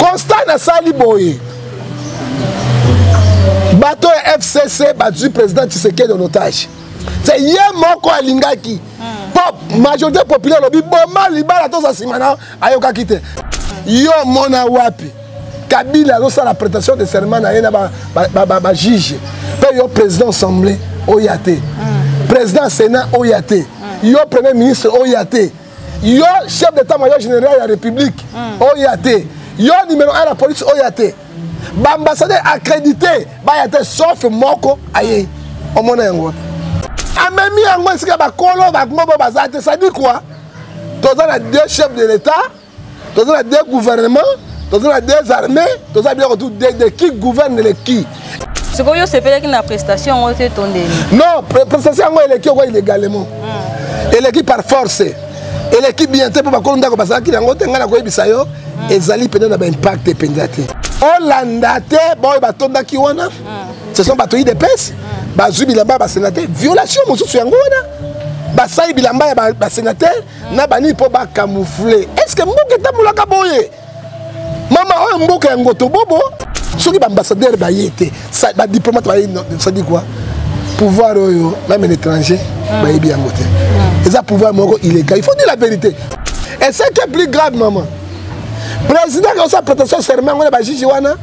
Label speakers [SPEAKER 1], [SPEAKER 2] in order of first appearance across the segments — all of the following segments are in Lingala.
[SPEAKER 1] constat nasali boye bato ya fcc bazwi président tshisekedi en otage se ye moko alingaki pop majorité populaire alobi boma libala toza nsima na ayokaki te yo omona wapi kabila azosala prétention de serment na ye na bajuge mpe yo président assemblée oya te président sénat oya te yo premier ministre oya te yo chef d'état major général ya république mm. oya te yo numéro 1 ya police oya te baambassadeur accrédité baya te sauf moko ayei omona yango wapi amemi yango esika bakolo bangobo baza te sadi kua toza na deux chef de l'état toza na deux gouvernement toza na deux armée toza biloko tout de qui gouverne le qui sikoyo yo
[SPEAKER 2] osepelaki na prestation yango te to ndeni non prestation
[SPEAKER 1] yango eleki oko illégalement hmm. eleki par force eleki bien te mpo bakolo ndako bazalaki na yango te ngai nakoyebisa yo hmm. ezali mpenza na baimpact mpenza te olanda te baoyo batondaki wana hmm. ce sont bato idps bazwi bilamba ya basenateur violation mosusu yango wana basali bilamba ya basenateur na banini mpo bacamoufle est ce que mboka etambolaka boye mama oyo mboka ya ngoto bobo soki baambassadeur baye te badiplomate baye sadi kua pouvoir oyo meme na étranger ah. bayebi yango te ah. eza pouvoir moko illégal il faut dire la vérité et ce qui est plus grave maman président akosa prétention serment ngo na bajuge wana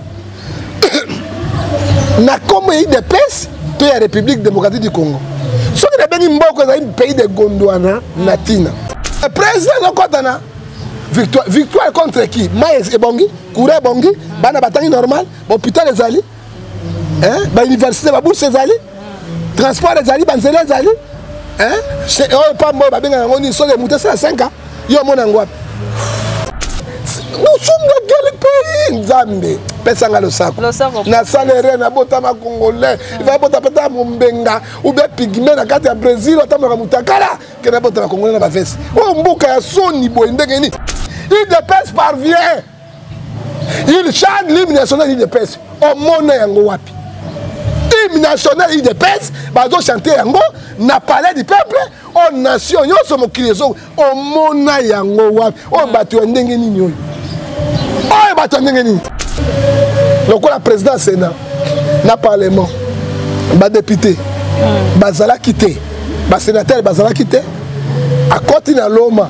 [SPEAKER 1] na nkombo ya idps to ya république démocratique du congo soki nabengi mboko ezali pays de gondwana na ntina président azokɔtana victoire, victoire contre qui mai ebongi courant ebongi bana batangi normal bahopital ezali bauniversité babourse ezali transport ezali banzela ezali oyo pamba oyo babengaka yango nini soki emute sala 5 ans yo omona yango wapi nosumba kele pays nzambe pesa nga losako nasala ere nabotama congolais hmm. ifa bota peta mombenga ube pigme na kati ya brésil atambolaka motakala ke nabotama congolais na bavese oyo mboka ya soni boye ndenge nini il depese parvient il chante l'hymne national idps omona yango wapi hymne national idps bazochante yango na palais du peuple oyo nation nyonso mokili ezo omona yango wapi oyo bato ya ndenge nini oyo oyo bato ya ndenge nini lokola président ya sénat na parlement badepute hmm. bazalaki te basénatere bazalaki te akoti na loma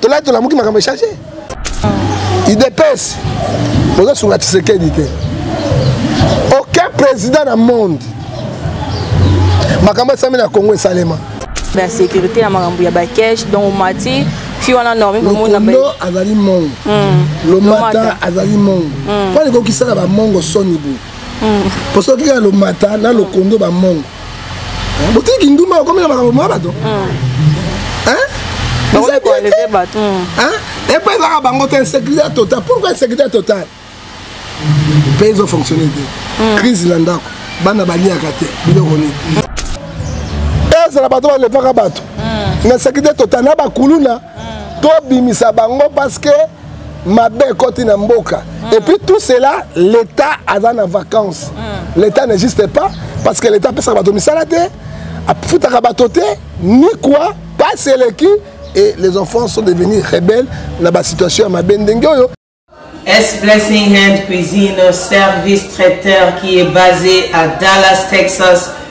[SPEAKER 1] tolai tolamuki makambo echange idps bozosunga tshisekedi te aucun président na monde makambo esami na congo esalema ya sécurité
[SPEAKER 2] ya makambo ya bakesh donc omati fi wana normilokondo azali mongo hmm.
[SPEAKER 1] lomata azali mongo mpo hmm. alikokisaka bamongo soni boye posoki ya lomata na lokondo bamongo botiki kindumba bakomi na makambo ma bato
[SPEAKER 2] epa
[SPEAKER 1] ezaka bango te insécurité ya total pourquoi insécurité ya total mpe ezo fonctionne te hmm. crise na ndako bana baliaka te biloko nini ezala bato balevaka bato na insécurité total na bakuluna hmm. tobimisa bango parce que mabe ekoti na mboka mm. et puis tout cela l'état aza na vacances mm. l'état n'existe pas parce que l'état apesaka bato misala te afutaka bato te ni quoi pasi eleki et les enfants sont devenus rebelles na basituation ya mabe ndenge oyo S
[SPEAKER 3] Blessing Hand Cuisine, service traiteur qui est basé à Dallas, Texas,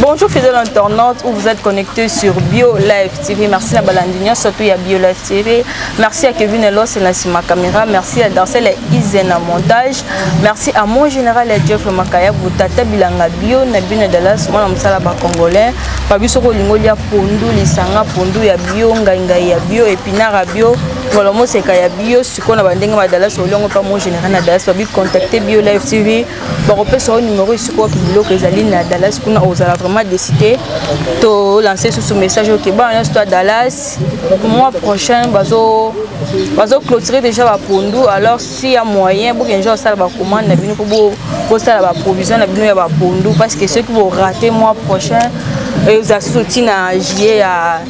[SPEAKER 2] Bonjour fidèle internaute où vous êtes connecté sur Bio Live TV. Merci à Balandinho, surtout à Bio Live TV. Merci à Kevin Elos et Nassima Camera. Merci à Dancel et Isena Montage. Merci à mon général et Jeff Makaya pour Tata Bilanga Bio, Nabine Dallas, moi on sala ba congolais. Pabi soko lingolia pondu lisanga pondu ya bio ngainga ya bio epinara bio ngolo moseka ya bio sikoyo na bandenge ba Dallas olongo pa mon général na Dallas pabi contacter Bio Live TV. bakopesa yo numero esika oki biloko ezali na dallas kuna ozala vraiment décide tolanse susu message oke bana nyonso to ya dallas mois prochain bazo bazoclotire déjà bapondu alors si ya moyen bokende ja kosala bacommande na bino mpo bosala baprovision na bino ya bapondu parce que soki borate mois prochain ezala susu ntina juillet ya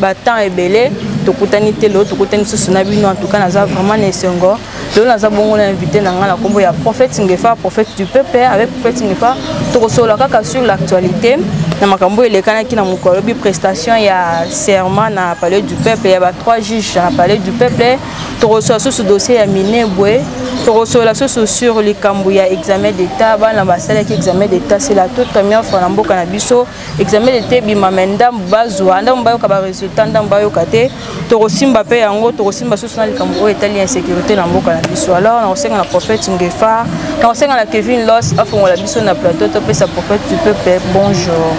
[SPEAKER 2] ba temps ebele tokutani te lelo tokutani lisusu na bino en tout cas naza vraiment na esengo lelo naza bongo na invité na ngai na nkombo ya prophète ngefa prophète du peuple avec prophète ngefa tokosolola kaka sur l'actualité na makambo elekanaki na mokolo alobi prestation ya serment na palais du peuple ya ba trois juges na palais du peuple tokosolola susu dossier ya minebwe tokosolola susu sur likambo ya examen d'état bana basalaki examen d'état c'est la toute première fois na mboka na biso examen d'etat ebima mai ndambo bazwa ndambo bayoka baresultat ndambo bayoka te tokosimba mpe yango tokosimba susu na likambo oyo etali insécurité na mboka na biso alors nakosenga na prophète ngefa nakosenga na kevin los afongola biso na plateau topesa prophète du peuple bonjour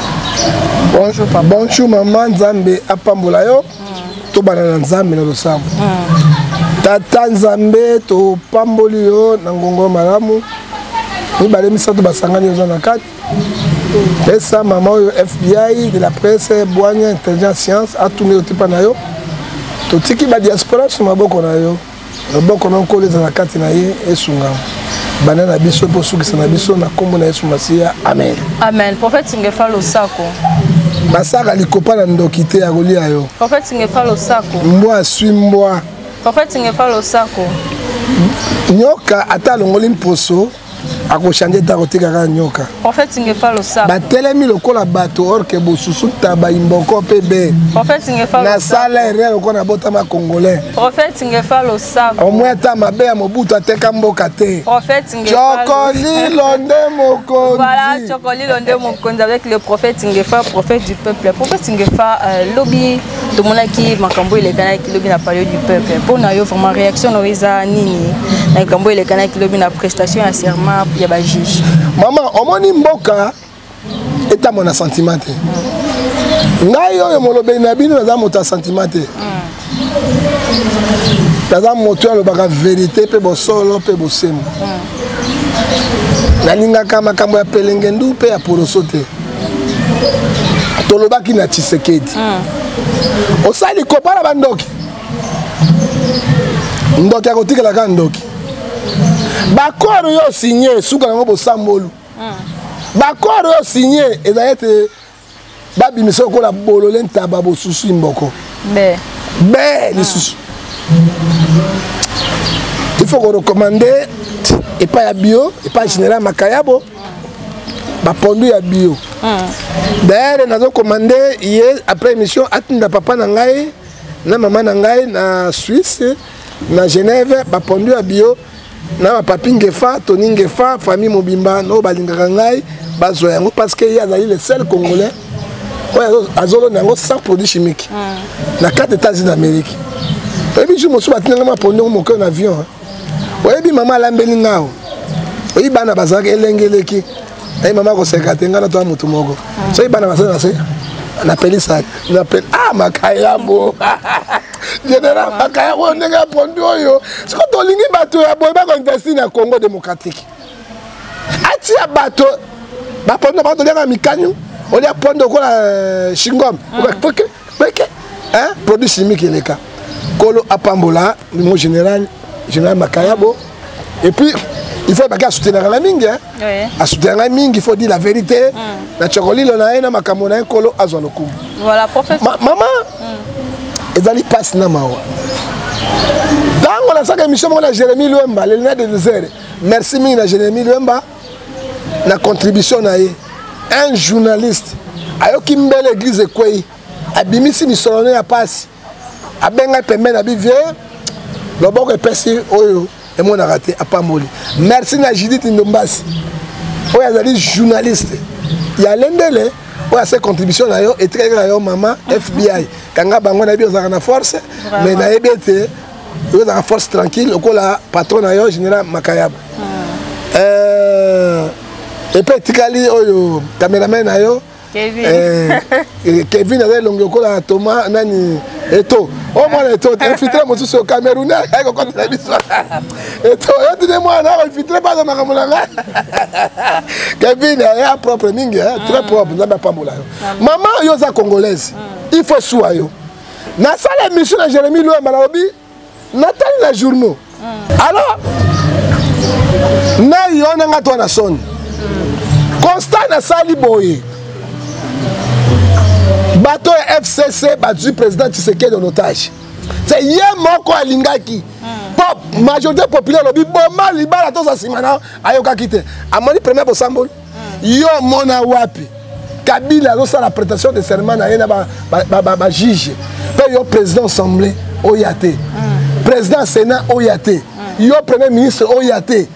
[SPEAKER 2] bonjour
[SPEAKER 1] papa bonjour mama nzambe apambola yo hmm. tobana na nzambe na losambo hmm. tata nzambe topamboli yo na ngongo malamu mibale misato basangani oza na kati pesa mama oyo fbi de la presse bwanya intelligence science atuni otipa na yo totiki badiaspora so maboko na yo loboko na nkolo ezala kati na ye esungama banda na biso mpe osukisa na biso na nkombo na yesu masiya amen amen prophète
[SPEAKER 2] ngefa losako basaka
[SPEAKER 1] likopa na ndoki te ya kolia yo prophète ngefa losako
[SPEAKER 2] mbwa aswi mbwa
[SPEAKER 1] prophète ngefa
[SPEAKER 2] losako
[SPEAKER 1] nyoka ata alongoli mposo akochange te akotika kaka nyoka
[SPEAKER 2] batelemi lokola
[SPEAKER 1] bato orke bosusu taba imboko mpe be
[SPEAKER 2] nasala erreur
[SPEAKER 1] lokola nabotama congolais
[SPEAKER 2] omwe ata
[SPEAKER 1] mabe
[SPEAKER 2] ya
[SPEAKER 1] mobutu ateka mboka te
[SPEAKER 2] cokolilo
[SPEAKER 1] nde mokonzi
[SPEAKER 2] avec le prophète Ngefa, prophète du peuple. Prophète Ngefa, euh, lobby tomonaki makambo elekanaki lobi na palio du peuple mpo na yo vraiment réaction na yo eza nini na likambo elekanaki lobi na prestation ya serment ya bajuge mama omoni
[SPEAKER 1] mboka etambo na sentiment te ngai oyo molobeli na bino naza moto ya sentiment te naza moto oyo alobaka verité mpe bosolo mpe bosembo nalingaka makambo ya pelengendu mpe ya poloso te tolobaki na tshisekedi mm. osali kopa na bandoki ndoki akotikala kaka ndoki bakoro yo signe suka yango bosambolu mm. bakoro yo signe ezali ete babimisa lokola bolole ntaba bosusu imboko be be lisusu il faut korecommande epai ya bio epai ya général makayabo bapondu ya bio dayere nazokomande ye après émission atinda papa na ngai na mama na ngai na suisse na genève bapondu ya bio mm. na bapapi ngefa toni ngefa famille mobimba oyo balingaka ngai bazwa yango parce que ye azali le seul congolais oyo azolona yango sans produit chimique ah. na kati états-unis d'amérique oyebi jour mosusu batindanga mapondi yango moke na avion oyebi mama alambeli ngao oyebi bana bazalaka elenge eleki naye mama akoseka te ngai natoya motu moko soki bana base na se napelisa napel ah makayabo general makayabo ndenge ya pondu oyo soki tolingi bato ya boye bakoinvesti na congo démocratique atia bato bapondu na bango toliaka mikanyu olia pondu okola shingom euh, mm. peke hein? produit chimique eleka kolo apambola mon général général makayabo et puis il faut baki asoutenaka na mingi asoutenaka ngai mingi il faut dire la vérité mm. na chokolilo na ye na makambo na ye
[SPEAKER 2] nkolo
[SPEAKER 1] azwa lokumu mama
[SPEAKER 2] mm.
[SPEAKER 1] ezali mpasi na mawa ntango nasaka émission moko na jérémi lwemba lelina de desert merci mingi na jérémi lwemba na contribution na ye un journaliste ayoki mbele église ekwei abimisi misolo ne ya mpasi abengai pembeni na bivie loboko epesi oyo emonaka te apamboli merci na judith ndombasi oyo azali journaliste ya lendele oyo ase contribution na yo etikaki na yo mama fbi kanga bango nayebi ozalaka na force mais nayebi ete yo ozalaka force tranquille lokola patron na yo général makayaba ah. euh, epe etikali oyo cameraman na yo kevin euh, euh, aza elongi lokola thomas nani eto omwana oh, eto infiltre mosusu cameroune ayaki kokotela biso eto yotine mwana akoinfiltre baza makambo na nga kevin ya propre mingi très mm. propre nzambe apambola yo mama yo oza congolaise mm. il faut sua yo nasala émission na jérémi loyamba nalobi natali na journaux mm. alors nayi wana nga to na soni mm. constat nasali boye bato ya fcc bazwi président tshisekedi en otage se ye moko alingaki mm. pop majorité populaire alobi boma libala toza nsima na ayokaki te amoni premier bosamboli yo omona wapi kabila azosala prestation de serment na ye na bajuge mpe yo président assemblée oya te mm. président sénat oya te mm. yo premier ministre oya te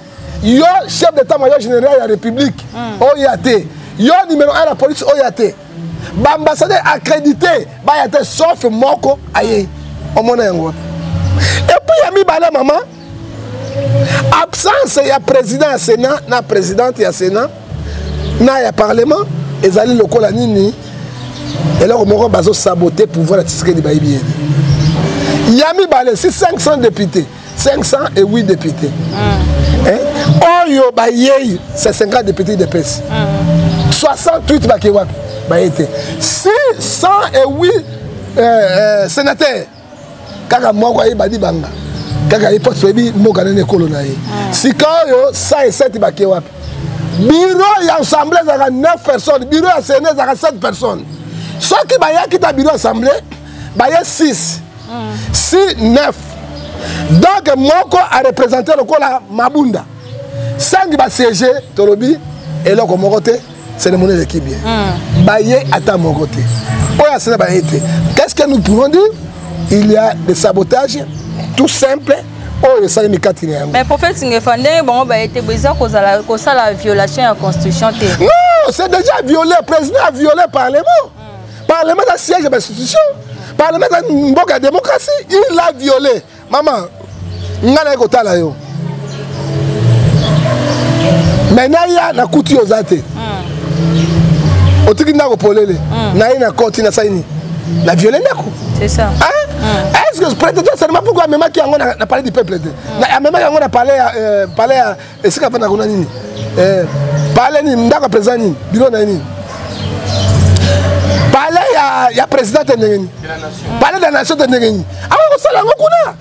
[SPEAKER 1] yo chef d'état major général ya république mm. oya te yo numéro 1 ya police oya te baambassadeur accrédité baya te sauf moko ayei omona yango wapi epuis ya mibale mama absence ya président ya sénat na présidente ya sénat na ya parlement ezali lokola nini eloko moko bazosabote pouvoir ya tisikedi bayebi ye te ya mibale si 500 député 508 député oyo bayei se 50 député idepesi 68 bakei wapi baye te si 108 euh, euh, sénateur kaka moko ayeba libanga kaka ye mpasi oyebi mboka nene ekolo na ye ah. sikaoyo sa eseti bake wapi biro ya assemblée ezalaka 9 personnes biro ya sene ezalaka 7 personnes soki bayaki ta biro assemblée baye 6 si 9 donc moko arepresente lokola mabunda sangi basiége tolobi eloko moko te cérémonie eleki bien hmm. baye ata moko te oyo asala baye te qu'est ce que nous pouvons dire il y a des sabotages tout simple oyo esalemi kati
[SPEAKER 2] na yango mais prophète ngefa ndenge bango baye te eza kozala kosala violation ya constitution te non c'est
[SPEAKER 1] déjà violé président a violé parlement hmm. parlement eza siège ya bainstitution parlement eza mboka ya démocratie il a violé mama ngai naye kotala yo me naya nakuti yo oza te hmm. otiki ndako polele hmm. naye na koti nasali nini na viole ndako
[SPEAKER 2] hmm. est ce que
[SPEAKER 1] prête toi seulement pourquoi amemaki yango na palais du peuple te amemaki yango na palais ya euh, esika afanda kuna nini eh, pale nini ndako ya président nini bilo na ye nini pale ya, ya président te ndenge nini pale de la nation te ndenge nini akoki kosala yango kuna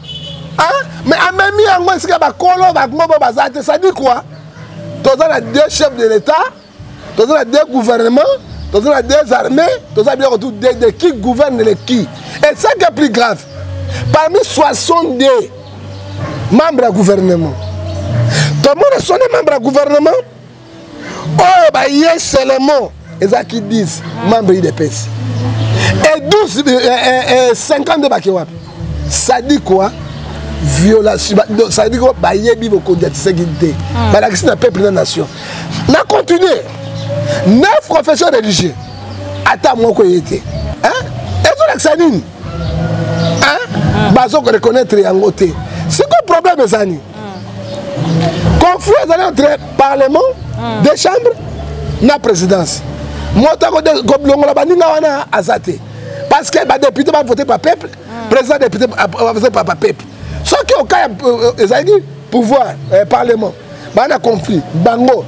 [SPEAKER 1] mais amemi yango esika bakolo bango bo baza te sadi kua toza na deux chef de l'état toza na deux gouvernement toza na deux armées toza biloko tout de, de qui gouverne le qui et ça qui est plus grave parmi 62 membres ya gouvernement tomona sonde membre ya gouvernement oyo baye selemo ezalaki 10 membre idps et 12 50 nde bake wapi sadikwa violation sadiki oyo bayebi bokonzi ya tisekedi te hmm. balakisi na peuple na nation na continue na profession religieux ata moko eye te ezolakisa nini hmm. bazo koreconnaitre yango te sikoyo problème ezali hmm. conflit ezali entre parlement de chambre na présidence moto akolongola baninga wana aza te parce que badepute bavote pa peuple mm. président depute bavote pa peuple soki oka ya euh, euh, ezalaki pouvoir euh, parlement baa na conflit bango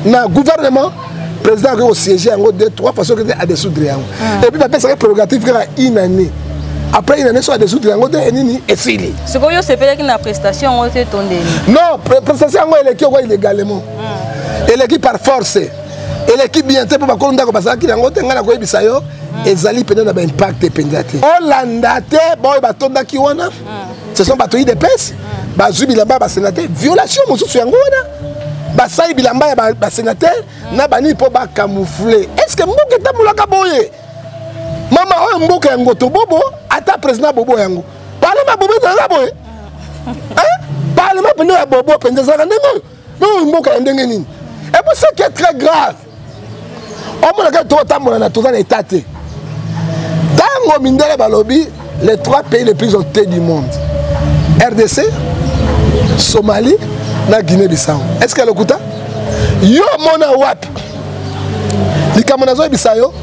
[SPEAKER 1] na gouvernement président akoki kosiége yango de trois fois soki te adesoudre yango mm. epuis bapesaki prérogative kaka une année après une année so adesoudre yango te nini esili sikoyo osepelaki na
[SPEAKER 2] prestation yango te tondeli
[SPEAKER 1] non prestation yango eleki oko illégalement mm. eleki par force eleki bien te mpo bakolo ndako bazalaki yango te ngai nakoyebisa yo hmm. ezali mpenza na baimpact mpenza te olanda te baoyo batondaki wana hmm. ce sont bato idps hmm. bazwi bilamba ya basenateur violation mosusu yango wana basali bilamba ya basenateur na banini mpo bacamoufle est ce que mboka etambolaka boye mama oyo mboka ya ngoto bobo ata président bobo yango parlement bobo ezalaka boye parlement mpenza ya bobo mpenza ezalaka ndenge oyo Bongo mboka ya ndenge nini? Et pour ce qui est très grave, omonaka totambola na toza na etat te. Tango mindele balobi les trois pays les plus dotés du monde. RDC, Somalie, na Guinée-Bissau. Est-ce que lokuta? Yo mona wapi? Likambo nazo yebisa yo,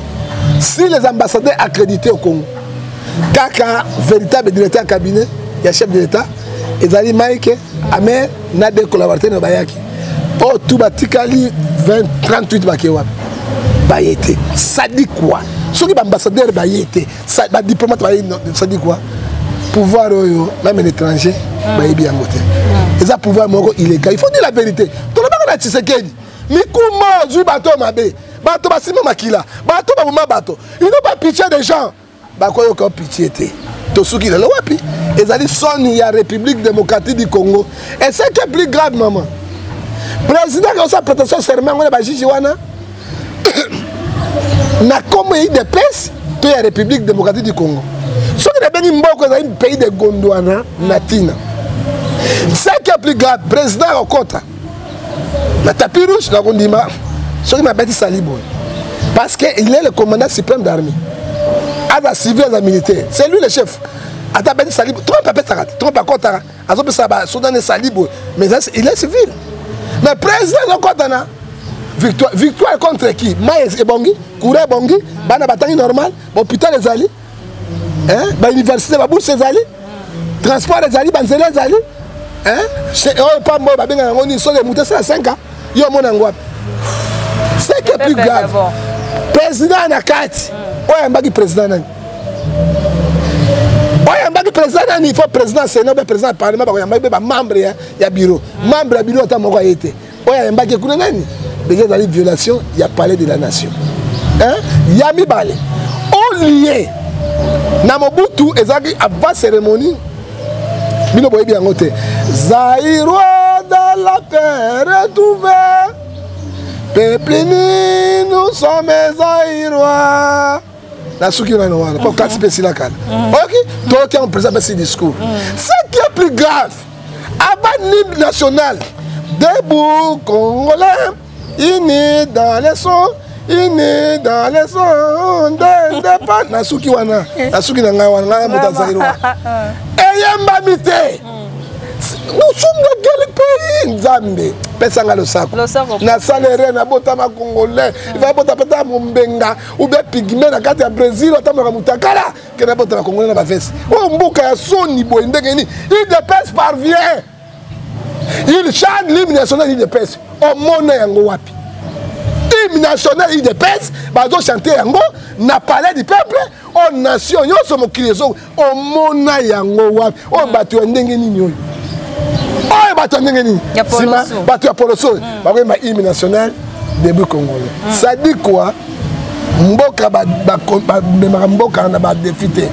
[SPEAKER 1] si les ambassadeurs accrédités au Congo, kaka véritable directeur cabinet, ya chef de l'État, ezali Mike ame na de collaborateur na bayaki oyo oh, tu batikali 38 bake wapi baye te sadi kua soki baambassadeur baye te badiplomate baye sadi kua pouvoir oyo meme na étranger ah. bayebi yango te ah. eza pouvoir moko illégal il faut dire la vérité tolobaka na tshisekedi mikuma ozwi bato mabe bato basima makila bato baboma bato ino bapitie des gens bakoyoka pitie te tosuki lelo wapi ezali soni ya république démocratique du congo et ce qui est plus grave mama président akosa prétention serment yango na bajuge wana na nkombo ya idps to ya république démocratique du congo soki nabengi mboko ezali pays de gondwana na ntina ce qui est plus grave président akokota na tapis rouge nakondima soki mabatisali boye parce que il est le commandant suprême d'armée aza civil aza militaire c'est lui le chef ata abeti sali trump apesaka te trump akɔtaka azopesa basoda ne sali boye mais il est civil mais président azokɔta na victoire victoire contre qui mai ebongi courant ebongi bana batangi normal hôpital ezali hein? ba université ba bourse ezali transport ezali ba nzela ezali hein? oyo pamba oyo babengaka yango nini soki moto esala 5 ans yo omona yango wapi ce qui est plus grave président na kati oyo ayambaki président nani oyambaki président nani il faut président sénat obe président ya parlement bakoyambaki mpe bamembre ya bureau membre ya bureau ata moko aye te oyo ayembaki kuna nani deja ezali violation ya palais de la nation hein? ya mibale olie na mobutu ezalaki avant cérémonie bino boyebi yango te zairoi dans la paix retrouvé peuple nous sommes zairoi nasuki yo nano wana mpo kasi mpe esila kala oyoki toyoki yango président apesi discours ce qui est plus grave avant nimbe national debout congolais ini dans les sons ini dans les sons nde nde pa nasuki wana nasuki na ngai wana ngai moto azali wa eyembami te nous sommes dans quel pays nzambe pesa ngai losako nasala erreur nabotama congolais ifabota peta mombenga ou bien pigme na kati ya brésil atambolaka mutakala kenda bota na congolais na bavese oyo oh, mboka ya soni boye ndenge nini udps parvient il chante l'hymne national udps omona yango wapi hymne national udps bazochante yango na palais du peuple oyo oh, nation nyonso mokili ezo omona yango wapi oyo hmm. bato ya ndenge nini oyo oyo bato ya ndenge nini nsima bato ya poloso oyo hmm. bakoyemba hymne national debut congolais hmm. sadi kua mboka bamemaka mboka na badefi te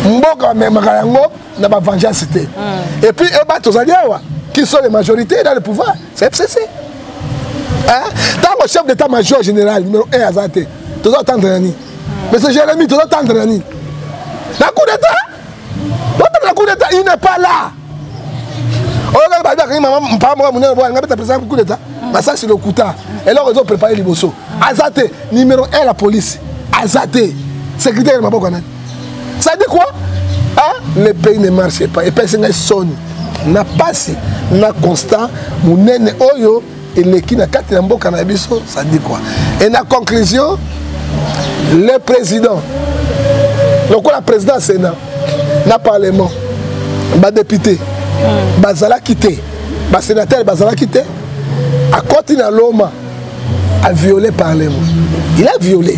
[SPEAKER 1] mboka bamemaka yango na bavengeance te epuis eba tozali awa qui sont les majorités dans le pouvoir c'est fcc ntango chef d'état major général numéro 1 aza te toza atendre na nini monsieur jérémi toza tendre na nini na coup d'état botanga na coup d'état il n'est pas là oyo kaka babi akangi mama mpaa moko monene boya nga beta président coup d'état masasi lokuta eloko ezo prépare liboso aza te numéro 1 la police aza te sécurité ya maboko ya nani ça dit quoi ah le pays ne marche pas epesi ngai soni na pasi na constat monene oyo eleki na kati ya mboka na biso ça dit quoi et na conclusion le président lokola président ya sénat na parlement badepute mm. bazalaki te basénatere bazalaki te akoti na loma a violé parlement il a violé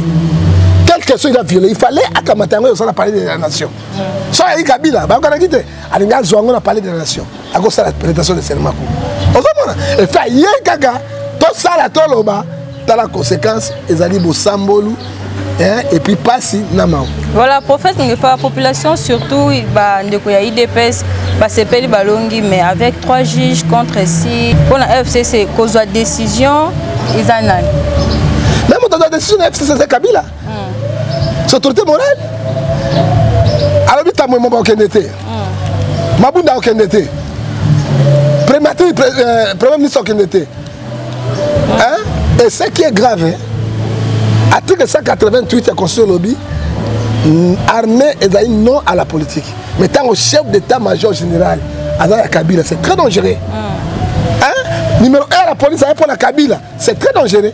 [SPEAKER 1] quelle question il a violé il fallait akamata yango eosala palais de la nation mm. so ayei kabila bayokanaki te alingi azwa yango na palais de la nation akosala prestation de serment kuna ozomona efe aye kaka tosala toloba tala conséquence ezali bosambolu hein, et puis pasi na mawa voilà prophète
[SPEAKER 2] ngefa population surtout bandeko ya idps basepeli balongi mais avec trois juges contre si mpo na fcc kozwa décision eza nani meme
[SPEAKER 1] otoza décision na fcc eza kabila hmm. c'est autorité morale alobi tambwe moko akende te hmm. mabunda akende te primature euh, premier ministre akende te et ce qui est grave hein? article 188 ya constitution olobi mm, armée ezali non à la politique mais ntango chef d'état major général aza ya kabila c'est très dangereux mm. hein? numéro 1 ya la police aye mpo na kabila c'est très dangereux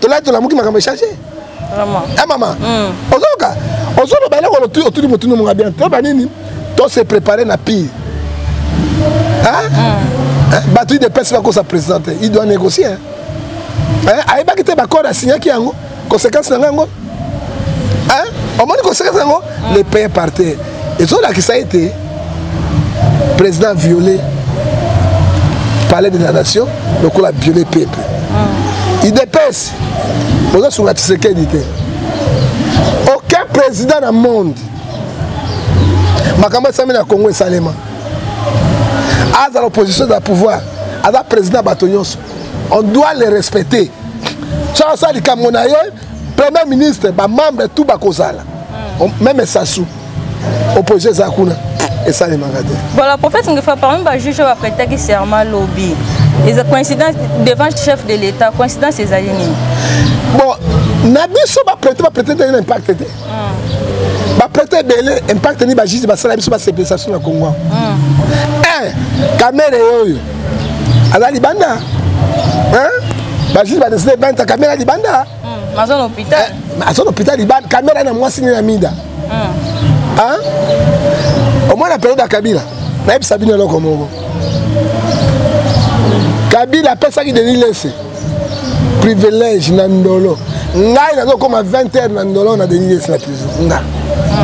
[SPEAKER 1] tolai tolamuki makambo echange e
[SPEAKER 2] mama hmm.
[SPEAKER 1] ozoyoka ozoloba eloko otuni motuni monga bien toyeba nini to se prépare na pire hmm. bato idepesi bakosa président te il doit négocier ayebaki te baccord asignaki yango conséquence na ngai yango omoni kosekesa yango mm. le paye par terre ezolakisa ete président viole palais de la nation lokola viole peuple mm. idps bozosunga tshisekedi te aucun président na monde makambo esami na congo esalema azala opposition ezala pouvoir aza président ya bato nyonso on doit le respecter soki asala likambo na ye premier ministre bamembre tout bakozala hmm. meme esasu opposition eza kuna esalemaka te voilà prophète ngefa parmi
[SPEAKER 2] bajuge bapretaki serment lobi eza coïncidence devant chef de l'état coïncidence ezali nini bon
[SPEAKER 1] na biso baprete baprete te na impacte te baprete ebele impact nini bajuge basala biso basepelisa biso na kongo eh, kamere oyo aza libanda bajuge badeside banta kamere libanda hmm,
[SPEAKER 2] aza na hôpital eh,
[SPEAKER 1] libanda kamere na mwasi nini na mida hmm. omona periode ya kabila nayebisa bino eloko moko kabila apesaki denis lese privilège na ndolo ngai nazokoma 20 heures na ndolo na denis lesla toujours nga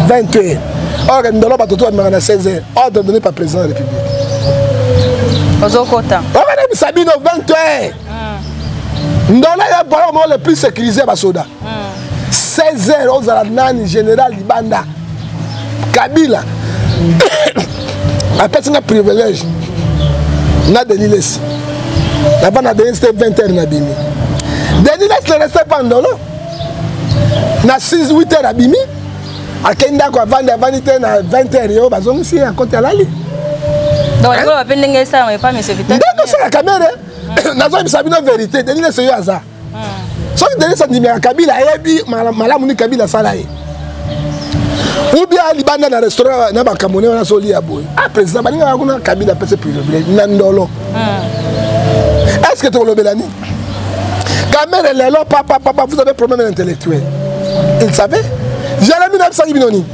[SPEAKER 1] 20 heures or ndolo bato to bamemaka na 16 heures ordre donné par président de la république ozokota
[SPEAKER 2] obanebisa bino 20
[SPEAKER 1] heures hmm. ndolo ya bolo moko le plus sécurisé ya basoda 16 hmm. heures ozala nani général libanda kabila apesi nga privilège na denilesi naba na denilesi te 20 heures nabimi denilesi ne reste pas ndolo na 6 8 heures abimi akei ndako avandi avandi te na 20 heures yo bazongisi ye akoti alali
[SPEAKER 2] ndenge osalaka mere
[SPEAKER 1] nazoyebisa bino verité denilesi yo aza soki denis andimaka kabila ayebi malamu ni kabila asala ye ou bien libanda na restaurant na bakamone wana solia boye ah président balingaka kuna kabila apese privilège na ndolo ah. est ce que tokolobela nini kamere lelo papa papa vous avez problème intellectuel il savait jalami na bisaki bino nini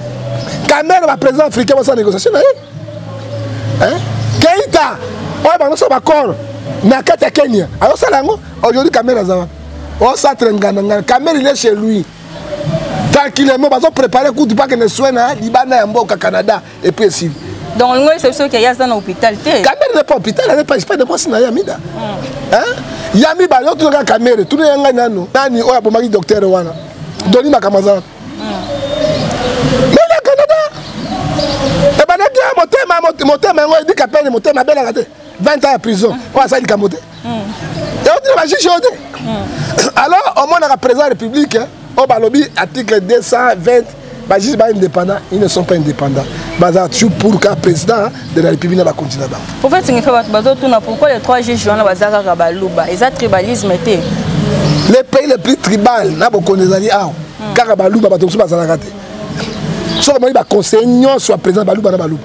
[SPEAKER 1] kamere baprésident africain basala négociation na ye keita oyo bango so bacor na kati ya kenya azosala yango aujourd'hui kamere aza wapi osatre ngana ngana kamere ile chez lui tranquillement bazo prépare kutu bakende soin na libanda ya mboka canada epuis esili donc olingo yesa biso
[SPEAKER 2] ke ye aza na hôpital te kamere ne pas hôpital
[SPEAKER 1] aza pas de mwasi na ye amida hmm. ya mibale otuna kaka kamere tuna ya ngai nano nani oyo abomaki docteur wana hmm. doni makambo aza wapi mele hmm. canada ebandaki motema motema yango edika pene motema abelaka te 20 ans ya prison oyo asali likambo te eotina bajuge oyo te alors omonaka président ya république oyo oh, balobi article 220 bajuge ba indépendant ils ne sont pas indépendants baza toujours pour ka président de la république na bakonti na bango prophète ngefe bato
[SPEAKER 2] bazotuna pourquoi les trois juges wana baza kaka baluba eza tribalisme te le pays
[SPEAKER 1] le plus tribal na bokonzi ezali awa kaka baluba bato mosusu bazalaka te soki omoni baconseil nyonso ya président baluba na baluba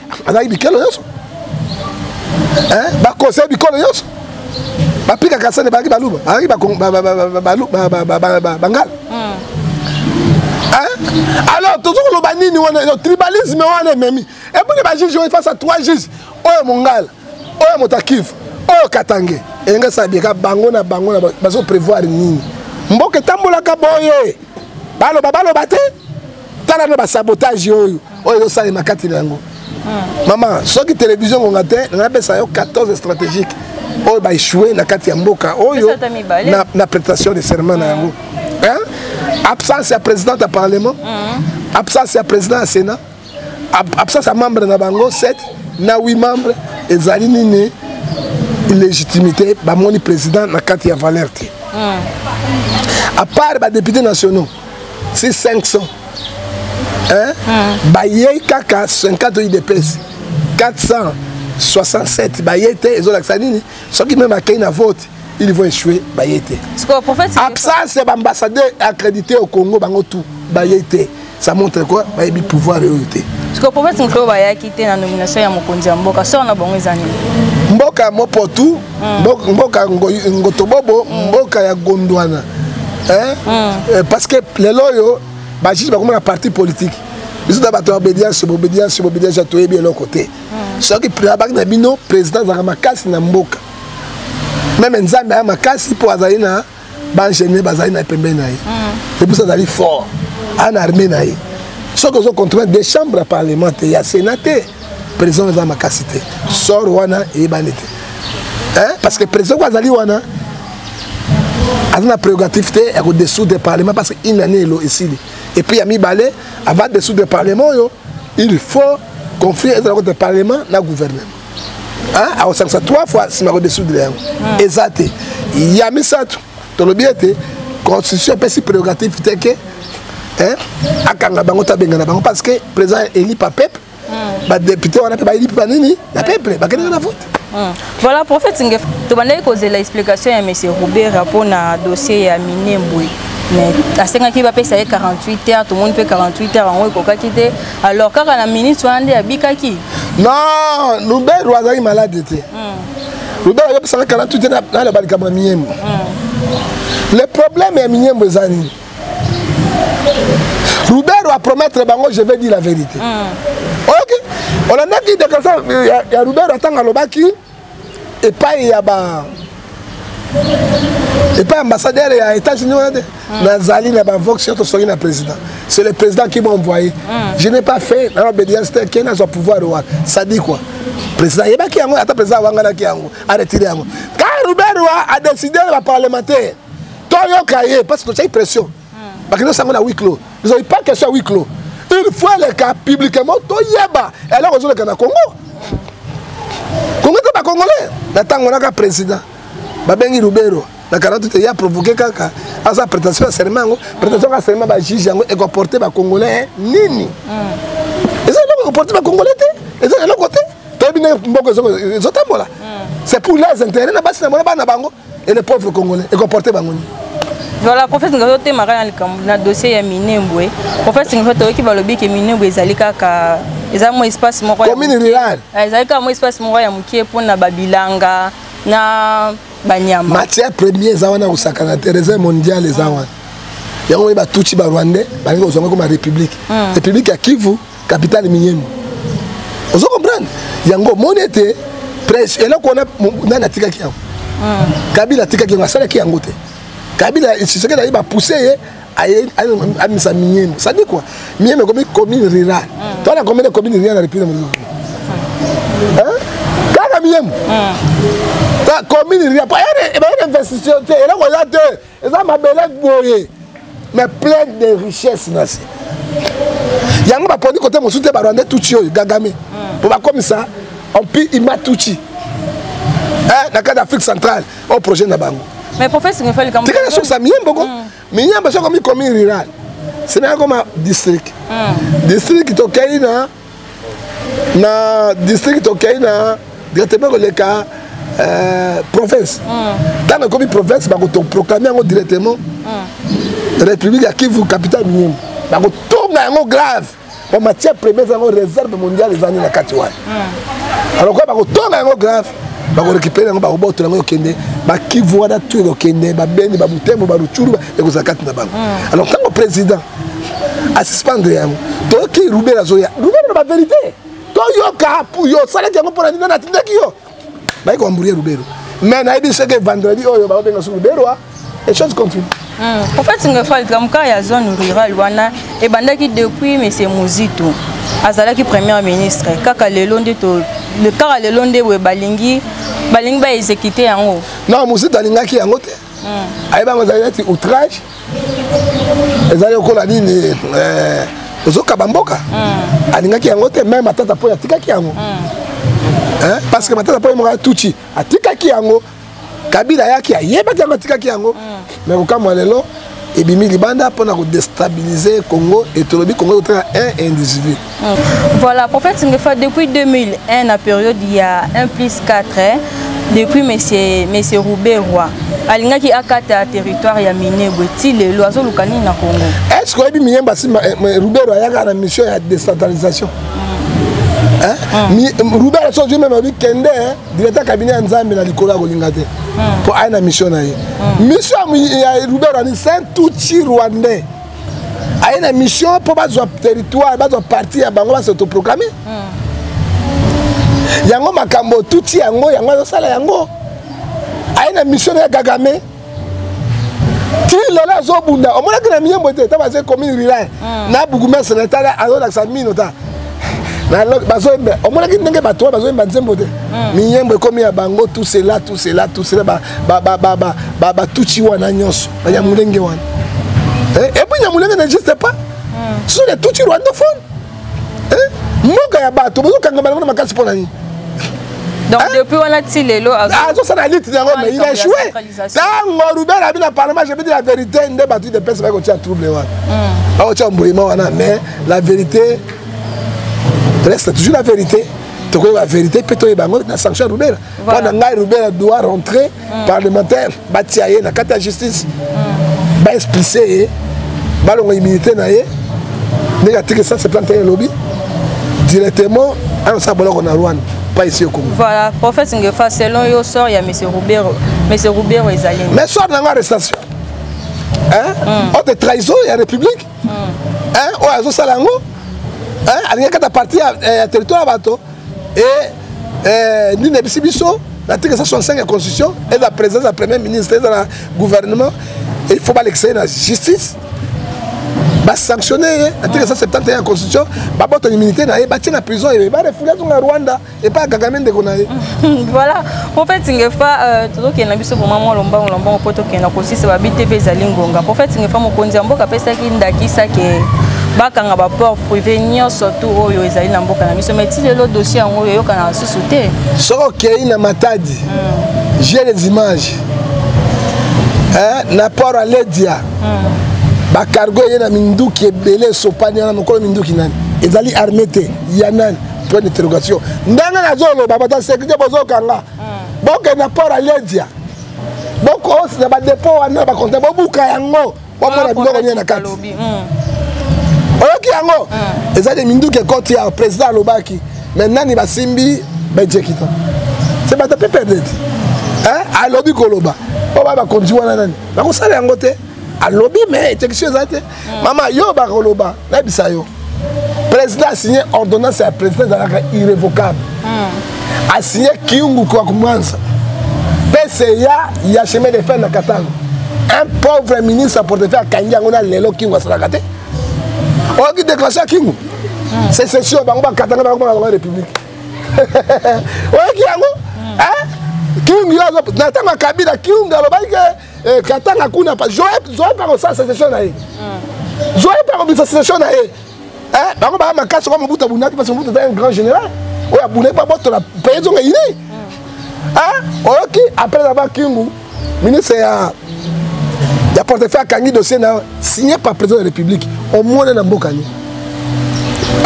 [SPEAKER 1] azalaki bikelo nyonso bakosai bikolo nyonso bapika kasani bazalaki baluba bazalaki bangala alors tozo koloba nini wana tribalisme wana ememi eboni bajuge oyo face a trois juge oyo mongala oyo motakive oyo katange elingi asala bieka bango na bango bazo prévoir nini mboka etambolaka boye baloba baloba te tala na basabotage oyo oyo ezosalema kati na yango hmm. mama soki televizio ngonga te ngai napesa yo 14 stratégique oyo baechoue na kati ya mboka oyo na, na prestation de serment na yango hmm. absence ya président ya parlement hmm. absence ya président ya sénat absence ya membre na bango 7 na 8 membre ezali nini illégitimité bamoni président na kati ya valeur te à part badepute nationaux si 500 hein? mm. bayei kaka 50 oyo idepesi 467 baye te ezolakisa nini soki meme akei na vote ils vont échouer baye te absence ya baambassadeur accrédité au congo bango tout baye te ça montre quoi bayebi pouvoir oyo te sikoyo prophète mokolo
[SPEAKER 2] bayaki te na nomination ya mokonzi ya mboka soko na bango eza nini mboka
[SPEAKER 1] mopotu mm. mboka ngotobobo mm. mboka ya gondwana eh? mm. eh, parce que lelo oyo bajuge bakoma na parti politique biso na bato ya obedience obedience obedience toyebi eloko te mm. soki abaki na bino président azalaka makasi na mboka meme nzambe aya makasi mpo azali na ba ingénieur bazali na ye pembeni na ye mm. epuis azali fort ana armée na ye soki ozo contrôle de chambre ya parlement te ya sénat te président eza makasi te sor wana eyebani te parce que président ko azali wana aza na prérogative te ya kodesoudre parlement parce que une année elo esili epuis ya mibale ava desoudre parlement oyo il faut conflit ezala kota parlement na gouvernement akosangisa 3 fois nsima akodesoudre yango hmm. eza te ya misato tolobi ete constitution epesi prérogative te ke akanga bango to abengana bango parce que président eli pa pepe hmm. badepute wana mpe bayeli mpe banini na peple bakendaka na vote hmm. voilà
[SPEAKER 2] prophète ngef tobandaki kozela explication ya monsieur robera mpo na dossier ya minembwe mais asengaki bapesa ye 48 heures tomoni mpe 48 heures yango ekokaki te alors kaka na minute wana nde abikaki non
[SPEAKER 1] luberu azalaki malade te hmm. luberu ayebisaka kala tu te naloba likambo ya miyembo hmm. le problème ya miyembo eza nini luberu apromettre bango je vais dire la vérité hmm. oyoki olandaki déclaration ya luberu atanga alobaki epai ya ba epai ambassadeur ya états-unis wana te mm. nazali na bavox yo tosongi na président c'est le président qui m'a envoyé mm. je n'ai pas fait na obédience te ke nazwa pouvoir wana ça dit quoi président ayebaki yango ata président awanganaki yango aretire yango ka ruberwa adécide baparlementaire toyoka ye parce que totyaki pression bakende osango na wiclo ezali pas question ya wiclo il faut eleka publiquement toyeba eloko ezoleka na congo congo te bacongolais na ntango naka président babengi lubero na 48 ya provoke kaka aza prétention ya serment yango prétention ya serment bajuge yango ekoporte bacongolais nini hmm. eza eloko ekoporte bacongolais te eza eloko te toyebi nde mboko ezotambola hmm. c'est pour les intérêt na basi na mwana bana bango et les pauvres congolais ekomporte bango nini voilà prophète
[SPEAKER 2] ngai otemaka na likambo na dossier ya minembwe prophète ngai toyoki balobi ke minembwe ezali kaka eza mwa espace moko commune rurale eh, ezali
[SPEAKER 1] kaka mwa espace
[SPEAKER 2] moko ya mokie mpo na babilanga na banyama matière premier eza
[SPEAKER 1] wana kosakana te reserve mondiale eza wana yango oyo batutsi barwandais balingi kozwanga koma république hmm. république ya kivu capitale miyembe ozo comprendre yango omoni ete presse eloko wana nani atikaki yango ah. kabila atikaki yango asalaki yango te kabila soki naye bapousse ye amisa miyembe sadi kua miyembe ekomi commune rural ah. tona combien de commune rural na république ah. kaka miyembe commune rural bayana investition te eloko eza te eza mabele boye mais plein de richesse na se yango baponi kote mosusu te barwandais tuti oyo gagame hmm. mpo bakomisa empire imatuti eh, na kati ya afrique centrale oyo projet na bango
[SPEAKER 2] tikala sukisa miyembo ko
[SPEAKER 1] hmm. miyembo sokomi komi rural semeyakoma district hmm. district tokei na na district tokei na directement koleka euh, province ntango mm. ekomi province bakoproclame yango directement mm. république ya kivu capitale minimu bakotonga yango grave po matière première eza yango réserve mondiale ezali na kati wana mm. alors kua bakotonga yango grave bakorekipere yango bakobotola yango okende bakivu wana tu ekokende babeni babutembo barucuru ekozala kati na bango mm. alors ntango président asuspendre yango toyoki rubela azoya rubela na baverité toyoka yo osalaki yango mpo na nini natindaki yo bayi koamburie rubelo mais nayebi soki vendredi oyo bakobenga su rubelo ah. et chose continue en fait
[SPEAKER 2] ngefali kamka ya zone rurale wana ebandaki depuis monsieur muzito azalaki première ministre kaka lelo nde kaka lelo nde boye balingi balingi baexécute yango non muzito alingaki
[SPEAKER 1] yango te hmm. ayebanga ezali neti outrage ezali lokola nini eh, ozokaba mboka hmm. alingaki yango te meme atata mpo atikaki yango hmm. parce que matata mpo yemaka tuti atikaki yango kabila ayaki ayebaki yango atikaki yango me kokamwa lelo ebimi libanda mpo na kodestabilize congo etolobi congo ekotala un indisivile Voilà,
[SPEAKER 2] prophète Ngefa, depuis 2001, la période, il y a 1 plus 4, hein, depuis M. Monsieur Roubé Roy, alingaki akata territoire ya minebwe ti lelo azoluka nini na congo est ce que oyebi miyemba
[SPEAKER 1] nsima eh, rubero ayaka na mission ya décentralisation rubert aso ozwi meme alobi kende directeur cabinet ya nzambe na likolo ya kolinga te mpo aye na mission na ye mission ya rubert ani saint tuchi rwandais aye na mission mpo bazwa territoire bazwa parti ya bango basotoproclame hmm. yango makambo otuti yango yango azosala yango aye na mission na ya kagame ti lelo azobunda omonaki na miyembo te ta baze commune rural hmm. na bourgmestre na tala azolakisa mino ta bazoyemba omonaki ndenge bato wana bazoyemba nzembo te hmm. miyembo ekomi ya bango tout cela tout cela tout cela batuti wana nyonso banyamulenge wana eh, epuis nyamulenge n'existe pas hmm. ce sont des tuti rwandophone eh, mboka ya bato bozokangama nango na makasi mpo na nini donc
[SPEAKER 2] hein? depuis wana ti lelo azosala lite yango mais
[SPEAKER 1] il a échoué ntango ruben abi na parlement je bidi la vérité nde bato idepese baki kotia trouble wana bakotia hmm. mboyima wana mais la vérité reste toujours la vérité tokoyeba vérité mpe toyeba yango na sanction ya rubera mpo na ngai rubela doit rentrer mm. parlementaire batia ye na kati ya justice mm. baexplice ye balonga immunité na ye ndenge atiki 170 elobi directement anosala boloko na rwanda pas ici au Congo. Voilà, prophète Ngefa,
[SPEAKER 2] selon yo, sort, il y a M. Roubero. M. Roubero, ils allaient. Mais sort dans la arrestation.
[SPEAKER 1] Hein? Mm. Oh, de trahison, il y a République. Mm. Hein? Oh, ils ont ça là-haut. Hein? Alingaka ta partie ya territoire ya bato et euh, nini nayebisi biso l'article 165 ya constitution eza présidence ya premier ministre eza na gouvernement il faut balekisa ye na justice basanctionne ye article 171 ya constitution babota immunité na ye batie na prison ebe barefulia zonga rwanda epai ya kagame ndeko na ye voilà
[SPEAKER 2] prophète ngefa euh, tozokende na biso vraimen mwa lombango lombango mpo tokende na kosisa babite mpe ezali ngonga prophète ngefa mokonzi ya mboka apesaki ndakisa ke bakanga baport privé nyonso tu oyo ezali na mboka na biso mai ti lelo dossier yango oyo eyokana lisusu te soki okei na
[SPEAKER 1] matadi hmm. jeu les images na port ya ledia hmm. bacargo eye na minduki ebele esopani wana mokolo minduki nani ezali armé te ya nani point d'interrogation ndenge nazoloba bata sécurité bozokanga hmm. bokende na port aledia bokosi na badepot wana bakonte bobuka yango bomona biloko nini na kati hmm. oyoki yango hmm. eza de minduki ekoti ya président alobaki mais nani basimbi bejekita se bata mpe perdete alobi koloba oyo bakonzi wana nani bakosala yango te alobi mais execution eza te mm. mama yo bakoloba nayebisa yo président asigne ordonnance ya président ezalaka irrévocable mm. asigne kiungu kwa kumwanza pca ya chemin de fer na katanga un pauvre ministre ya portefeuille akangi yango na lelo kiungu asalaka te oyoki déclaration ya kiungu mm. secession bango bakatanga bango bango république oyoki yango kiungu yo na ntango ya kabila kiungu alobaki ke eh, katanga kuna pa zoe pa kosala sesesio na ye hmm. zoe pa kobisa sesesio na ye eh, bango baya makasi oka mobutu abundaki parce mobutu aza un grand général oyo abundaki babotola paye zonga ini hmm. eh, oyoki apres na bakingu ministre ya ya portefeuille akangi dossier na signé par président de la république omona na mboka nini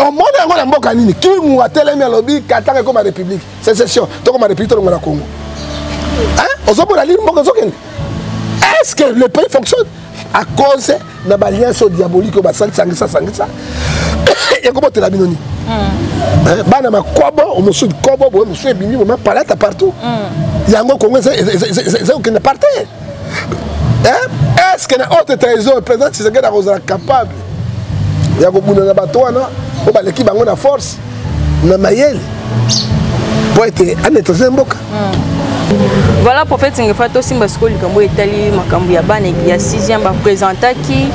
[SPEAKER 1] omona yango na mboka nini kingu atelemi alobi katanga ekoma république secession tokoma république tolongo na congo ozomona lini mboka ezokende est ce que le pays fonctionne à cause na balliance oyo diabolique oyo basalisangisa sangisa ekobotela bino nini hmm. eh, bana makobo mosusu likobo boye mosusu ebimi boma palata partout hmm. yango kongo eza kokende par terre eh, est ce que na haute trésor président tshisekedi akozala capable ya kobunda na bato wana oyo baleki bango na force na mayele mpo ete anetrese mboka hmm.
[SPEAKER 2] voilà prophète ngefa tosimba sikoyo likambo etali makambo ya bana ya 6e bapresentaki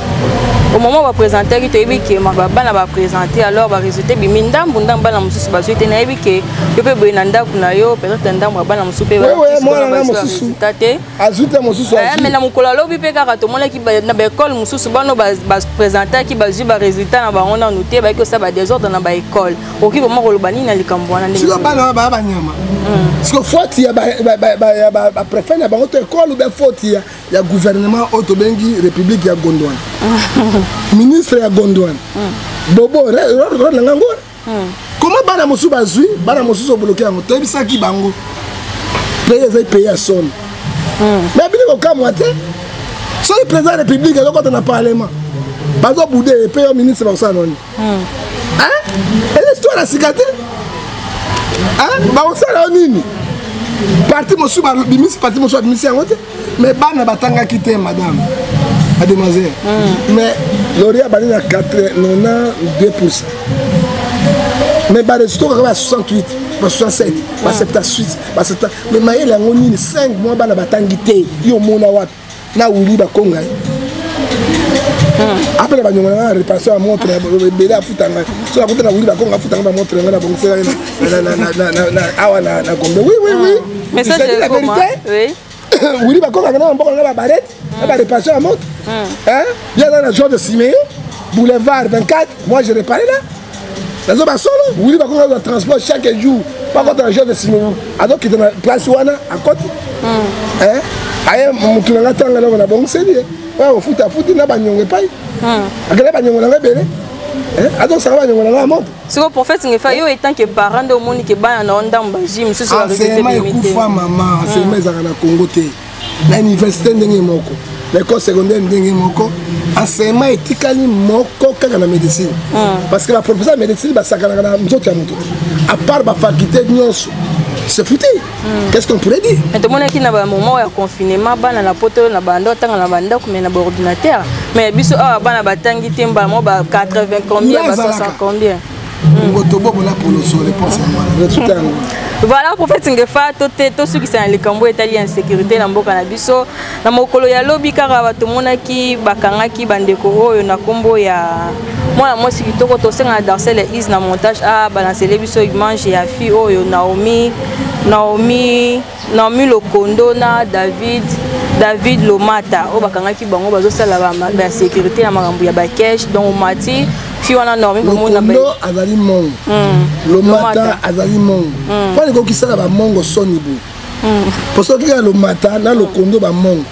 [SPEAKER 2] au moment bapresentaki toyebi ke bana bapresente alors baresultat ebimi ndambu ndambu bana mosusu bazwi te nayebi ke yo mpe boye na ndako na yo peut-être na ndambo ya bana mosusu mpe mwananga
[SPEAKER 1] te azwi te mosusu eh, me na mokolo alobi
[SPEAKER 2] mpe kaka tomonaki na baekole mosusu bano bapresentaki bazwi baresultat na bango nanu te bayaki kosala badesordre na baekole okoki koma koloba nini na likambo wana siko bana wana baya banyama
[SPEAKER 1] hmm. siko foti ya baprefet na bango to ekole obe foti ya gouvernement oyo tobengi république ya gondwana ministre ya gondwana hmm. bobo role na ngango hmm. koma bana mosusu bazwi bana mosusu obloke yango toyebisaki bango pays ezali pays ya soni hmm. me bini kokamwa te soki président ya république azokota na parlement bazobude ye mpe yo ministre bakosala noni hmm. eza histoire ya sika te bakosala yo nini parti mosusu babimisi parti mosusu babimisi yango te mais bana batangaki te madame mademoiselle mm. mais lori abandi na 92 pourcent mais baresultat kaka ba 68 ba 67 ba 78 ba 7 mais mayele yango nini 5 mois bana batangi te yo omona wapi na wili bakonga ye apele banyongo na ngai na reparation ya montre ebele afuta ngai so akuta na wili bakonga afuta ngai bamontre ngai na bongisela ye awa na gombe oui oui oui ah. mais ça c'est la
[SPEAKER 2] vérité oui wili bakokaka
[SPEAKER 1] na bamboka na babarete na bareparation ya moto ye aza na george simeo boulevard 24 moi je repare là nazo basolo wili bakokaka na transport chaque jour bakota na george simeo azokita na place wana akoti aye motu na ngai tanga eloko na bongiseli ye oyo akofuta afuti na banyongo epai akenda banyongo na ngai ebele azosaka banyongo na ngai ya moto siko prophète ngefa
[SPEAKER 2] yo etant que parent nde omoni ke bana na yo ndambo bazwi mosusu enseignement ekufa
[SPEAKER 1] mama enseignement hmm. ezalaka na congo te na université ndenge moko na école secondaire ndenge moko enseignement etikali moko kaka na médecine hmm. parce que baprofesseur ya médecine basakanaka na nzoto ya moto te à part bafaculté nyonso se futi Hmm. Qu'est-ce qu'on pourrait dire Mais tomonaki na ba moment
[SPEAKER 2] ya confinement bana na poto na banda tanga na banda ko mais na ba ordinateur mais biso awa ah, bana batangi te mba mo ba 80 combien ba 60 combien hmm. Ngotobobo
[SPEAKER 1] la polo sur les points ça voilà
[SPEAKER 2] prophète Ngefa to te to sukisa na likambo etali insécurité na mboka na biso Na mokolo ya lobi kaka tomonaki bakangaki bandeko oyo na nkombo ya mwana mwasi kitoko tosengana danse le is na montage a ah, balansele biso image ya fille oyo naomi naomi naomi lokondo na david david lomata oyo bakangaki bango bazosala bamaka ya sécurité na makambo ya bakeshe donc omati fille wana normi komona azali
[SPEAKER 1] mongo hmm. lomata azali mongo mpo hmm. alikokisala bamongo soni boye hmm. po soki ya lomata na lokondo bamongo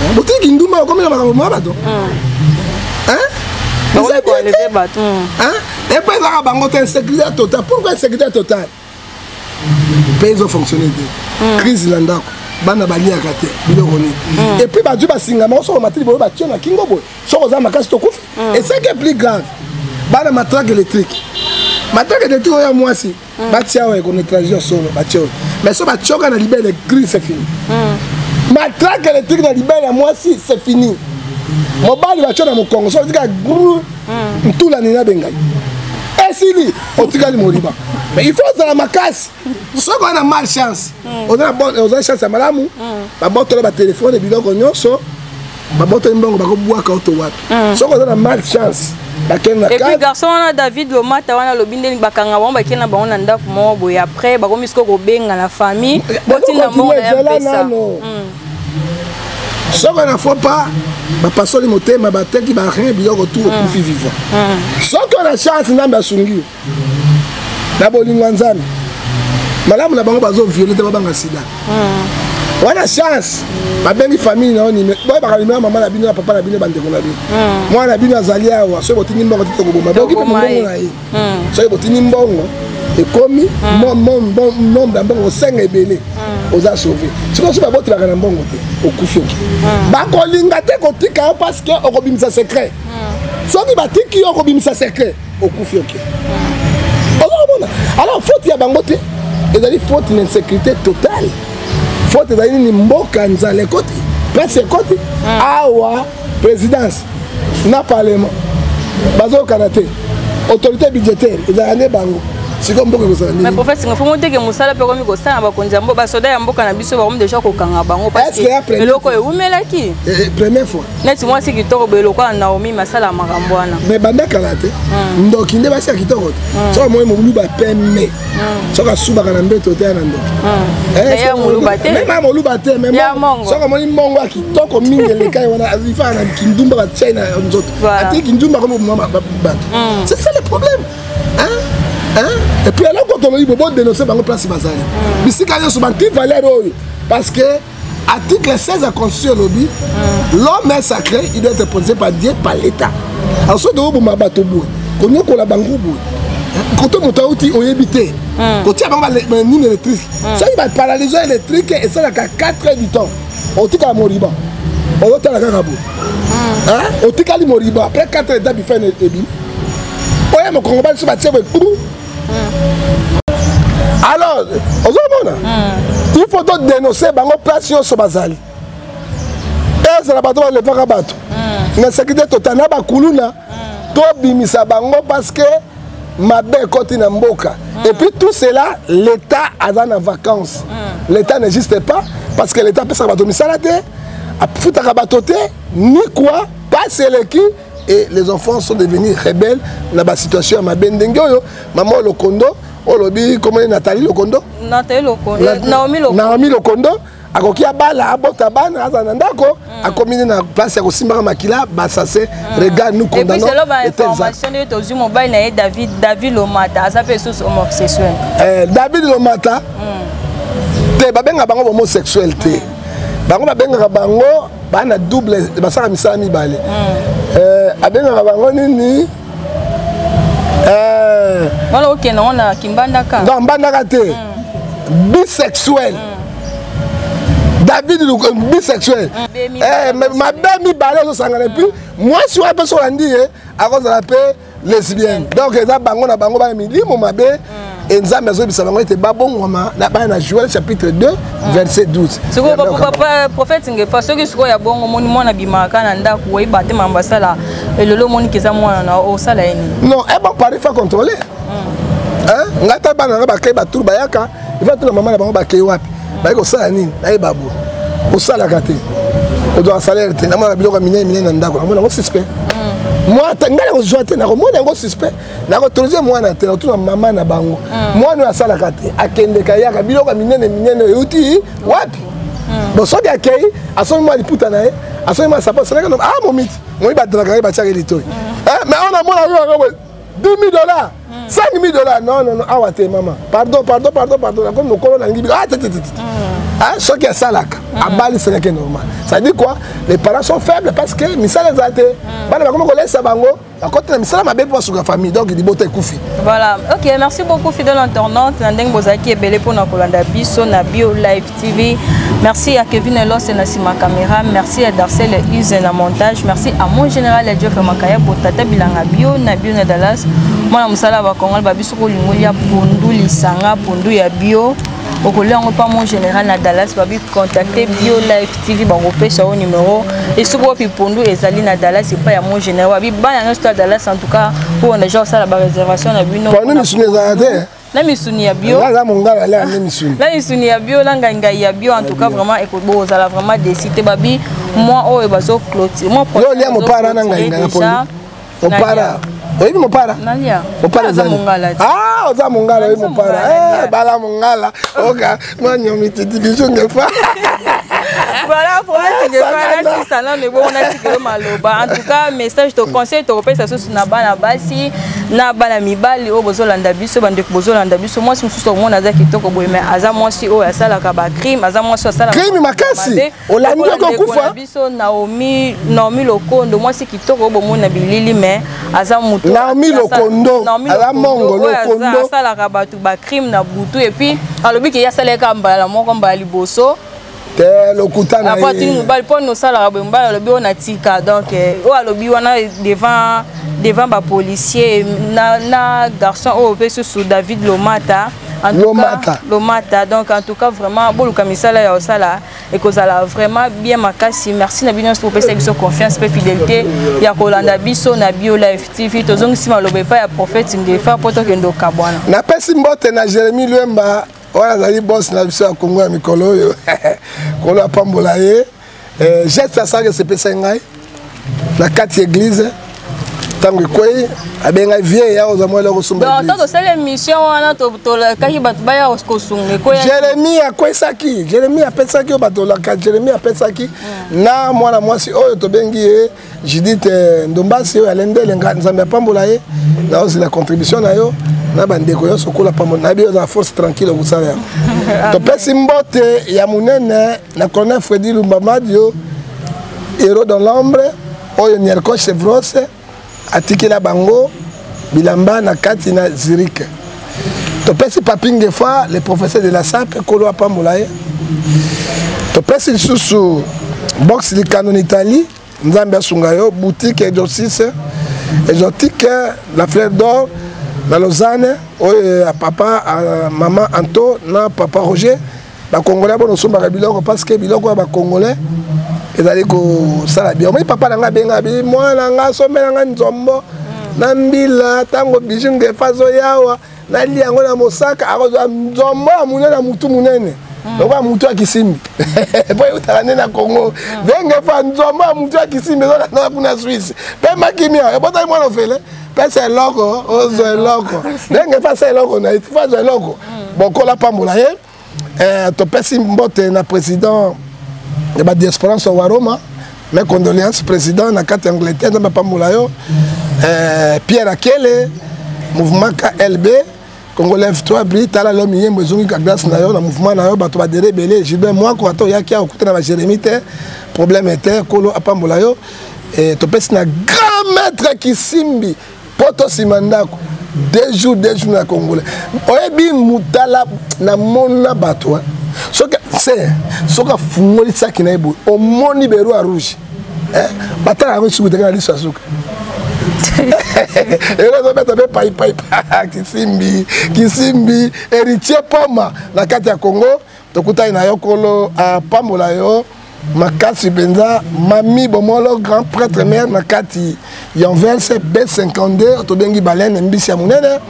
[SPEAKER 1] eh, botiki kindumba okomi na makambo ma bato
[SPEAKER 2] epo
[SPEAKER 1] ezaka bango te insécurité total pourquoi insécurité total mpe ezo fonctionne te hmm. crise na ndako bana baliaka te biloko nini hmm. epuis bazwi basingama osoko matili boyo batio na kingo boye soko oza makasi tokufi esaki plus grave bana matrake électrique matrake électrique oyo ya mwasi mm. batia oyo ekono étranger ya solo batia oyo mais so batioka na libele gris c'est fini mm. matraque électrique na libele ya mwasi c'est fini mobali batio na mokongo so otika gru mm. ntula nini abengai esili otikali moriba mais il faut ozala makasi soki oza na mal chance oza chance ya malamu babotolo batelefone biloko nyonso babotoli mbongo bakobwaka oto wapi mm. soki oza na mal chance epuis garçon wana david
[SPEAKER 2] lomata wana alobi ndeni bakanga bango bakei na bango na ndako moko boye après bakomi siko kobenga na famille eh, botinda mbongo na ya mpesa
[SPEAKER 1] soki na faut pas bapasoli motema bateki barin biloko tu okufi vivant soki ona chance nzambe asungi yo na bolingo ya nzambe malamu na bango bazoviole te babanga sida hmm. wana chance babengi famille na yo boyebaka nimero mama na bino na papa na bino bandeko na bino hmm. mwana na bino azali awa soki botindi mbongo te tokoboma bokipe mongongo na ye hmm. soki botindi mbongo ekomi nombre ya mbongo osenga ebele oza sauve soki osi babotelaka na mbongo te okufi oki bakolinga te kotika yo parce que okobimisa secret soki batiki yo okobimisa secret okufi oke oza komona alors faute ya bango te ezali faute na insécurité totale faute ezali nini mboka nzala ekoti mpasi ekoti ah. awa présidence na parlement bazokana te autorité budgétaire ezalaka nde bango sikoyo mboka ekozala
[SPEAKER 2] niniprofete nga fongo teke mosala mpe okomi kosala na bakonzi ya mboka basoda ya mboka na biso bakomi deja kokanga bango eloko eumelaki eh, eh, première fois
[SPEAKER 1] neti mwasi kitoko boye
[SPEAKER 2] lokola naomi masala makambo wana me banda kala te
[SPEAKER 1] mm. ndoki nde basi ya kitoko te mm. soki amoi moluba peme mm. soki asubaka na mbeto te ya na ndoki
[SPEAKER 2] mema moluba te
[SPEAKER 1] soki amoni mbongo ya kitoko mingi elekai wana ifaa na kindumba batiai na nzoto ati kindumba komoboma bato c'est ça le problème epuis eloko toloyi bobo denonse bango place bazali bisika nyonso banti valeur oyo parce que Article 16 ya constitution elobi hmm. l'homme est sacré, il doit être protégé par Dieu, par l'État. Alors soki tokoboma bato boye, konyokola bango boye, kote moto auti oyebi te hmm. kotia bango banini électrique hmm. soki baparaliso électrique esalaka 4 heures du temps otikala moriba oyotala kaka boye otikali moriba après 4 heures dabifa ebimi oye mokongobani so batie boye alors ozomona hmm. il faut to dénoncer bango place nyonso bazali ezala bato balevaka bato hmm. na sekirite total na bakuluna hmm. tobimisa bango parce que mabe ekoti na mboka et puis tout cela l'état aza na vacances l'état n'existe pas parce que l'état apesaka bato misala te afutaka bato te ni quoi pasi eleki et les enfants sont devenus rebelles na ba situation ya mabe ndenge oyo maman lokondo olobi komoni natali lokondo natali
[SPEAKER 2] lokondo eh, naomi lokondo naomi lokondo
[SPEAKER 1] akoki abala abota bana azala na ndako mm. akomi nde na place ya kosimbaka makila basase mm. regard nous condamnons selon bainformation
[SPEAKER 2] nde tozwi mobali na ye david david lomata aza mpe lisusu homosexuel eh, david
[SPEAKER 1] lomata mm. te babenga bango homosexuel te bango babengaka bango baa na double basala misala mibale hmm. eh, abengaka bango nini
[SPEAKER 2] eh. wana okenda ngo na kimbandaka non mbandaka te
[SPEAKER 1] hmm. bisexuel hmm. david bisexuel eh, mabe mibale ezosangana epuis mwasi wana mpe soki olandi ye akozala mpe lesbienne donc eza bango na bango bana milimo mabe mm. e nzambe azobisa bango ete babongwama na bana na joel chapitre 2 mm. verset 12 sikoyo
[SPEAKER 2] prophète ngefa soki sikoyo ya bongo omoni mwana abimaka na ndako oyeba te mambo asala elolo omoniki eza mwana na osala ye nini non eba eh pari fa
[SPEAKER 1] contrôle mm. ngai ta bana na bakei baturu bayaka ifa tuna mama na bango bakei wapi baye kosala nini nayeba bo osalaka te ozwaka salaire te namonaka biloko ya minene minene na ndako namona yango suspect mm. ngai nakozwa te nakomona yango suspect nakotorise mwana te nakotuna mama na bango mm. mwana oyo asalaka te akendeka yaka biloko ya minene minene euti wapi mm. bon soki akei asombi mwa liputa na ye asombi mwa sapo asalaka ah momiti moyi badalaka ye batiaka ye litoi eh, mais awa namona yo yango 2000 dollars 5000 dollars non non non awa te mama pardon pardon pardon pardon nakomi mokolo nalingi bika ah te te te Hein, ce qui est ça là, à Bali, c'est qui est normal. Ça dit quoi Les parents sont faibles parce que misala zate. Bana bakoma ko laisser bango. Bakota misala mabe pour suka famille donc il bota ekufi. Voilà. OK, merci
[SPEAKER 2] beaucoup fidèle internaute. Nandeng bozaki ebele pona kolanda biso na bio live. TV. Merci à Kevin Elos et Nassima Camera. Merci à Darcel et Use na montage. Merci à mon général et Geoffrey Makaya pour Tata Bilanga Bio, na Bio na Dallas. Moi, na musala ba Kongo, ba biso ko lingolia pondu lisanga, pondu ya bio. okolia yango mpa mon général na dallas babi contacte bio live tv bakopesa yo numero esoko wapi pondu ezali na dallas epai ya mon général babi bana nyonso to ya dallas en tout cas oyo na ja kosala baréservation na bino
[SPEAKER 1] na
[SPEAKER 2] misuni ya bio naza mongala lea nde
[SPEAKER 1] misuni na misuni ya bio na
[SPEAKER 2] ngaingai ya bio en tout cas vraiment ekozala vraiment desi te babi mwa oyo bazo clotire mwa yo lia mopara na
[SPEAKER 1] ngaingai ya pondu mopara oyebi mopara mopara ah, oza mongala oyebi mopara eh, bala mongala oka voilà
[SPEAKER 2] problème ah, tigefana sisa nano ebongo natikelo maloba en tout cas message to conseil tokopesa susu na bana basi na bana mibali oyo bozolanda biso bandeko bozolanda biso mwasi mosusu omona aza kitoko boye mai aza mwasi oyo asalaka bacrime aza mwasi oyo asalaka
[SPEAKER 1] olandi oke okufa biso naomi
[SPEAKER 2] naomi lokondo mwasi kitoko oyo bomoni na bilili me aza moto naomi lokondo
[SPEAKER 1] aza mongo lokondo asalaka bato
[SPEAKER 2] bacrime na butu epuis alobi ke ye asalaka mbala moko mbala liboso te
[SPEAKER 1] lokuta na ye mobali mpo nosalaka
[SPEAKER 2] boye mobali alobi oyo natika donc eh, oyo alobi wana devant devant bapolicier na, na garçon oyo mpe susu david lomata lomata lomata donc en tout cas vraiment boluka misala ya osala ekozala vraiment bien makasi merci na bino bopesa biso confiance mpe fidélité ya kolanda biso na bio live tv tozongisi maloba epai ya prophète ngefa mpo tokende okabwana napesi mbote
[SPEAKER 1] na jérémi lwemba oyo azali bos na biso ya kongo ya mikolo oyo kolo apambola ye eh, geste asalaka esepesai ngai na kati ya eglize ntango ekwei abengai vie ya oza mwele kosumbato tosala émission
[SPEAKER 2] wana tolakaki bato baya kosunga ekwei jérémi akwesaki
[SPEAKER 1] jérémi apesaki oyo bato olaka jérémi apesaki hmm. na mwana mwasi oyo tobengi ye judith eh, ndombasi oyo alendele nzambe apambola ye naozela contribution na yo na bandeko nyonso kola pambo nayebi yo ozala force tranquille okosala yango topesi mbote ya monene na colonel fredi lumbamadio hero dans l'ombre oyo nierco chevros atikela bango bilamba na kati na zurike topesi papi ngefa le professeur de la sape kolo apambola ye topesi lisusu box likano na italie nzambe asunga yo boutique exorcise exotique la fleur d'or na lausanne oyo ya papa mama anto na papa roger bakongolais bono osombaka biloko parce que biloko ya bakongolais ezali kosala bien omoi papa na ngai abenga bi mwana ngai asombela ngai nzombo mm. na mbila ntango biju ngefa azoyawa nali yango na mosaka akozwa nzombo ya monene na motu monene mm. lokola motu ya kisimbi mpo eutaka nde na congo mm. dengefa nzombo ya motu ya kisimbi ezolanda kuna swisse mpe makimi ayo ebotaki mwana ofele pesa eloko ozwa eloko ndenge pesa eloko na ye ti fazwa eloko mm. bokola pambola ye eh, topesi mbote na président ya badiasporance wa roma mes condoléances président na kati ya angleterre nzambe apambola yo eh, pierre akele mouvement klb Congo lève toi bri tala lelo miyembo ezongi ka glace na yo na mouvement na yo bato badere ebele gilbert mwako ata oyaki awa okuta na bajeremi te problème te kolo apambola yo e, topesi na grand maître kisimbi mpo tosima ndako deux jours deux jours na congolais oyebi motala namona bato soki se soki afungolisaki na ye boye omoni beroi rouge eh, batala yango esuku teke na liso ya suka elo ezobeta mpe paipaipa kisimbi kisimbi héritier poma na kati ya congo tokutani na yo kolo apambola yo makasi mpenza mami bomolo grand prêtre mare na kati ya anvers b52 tobengi balene mbisi ya monene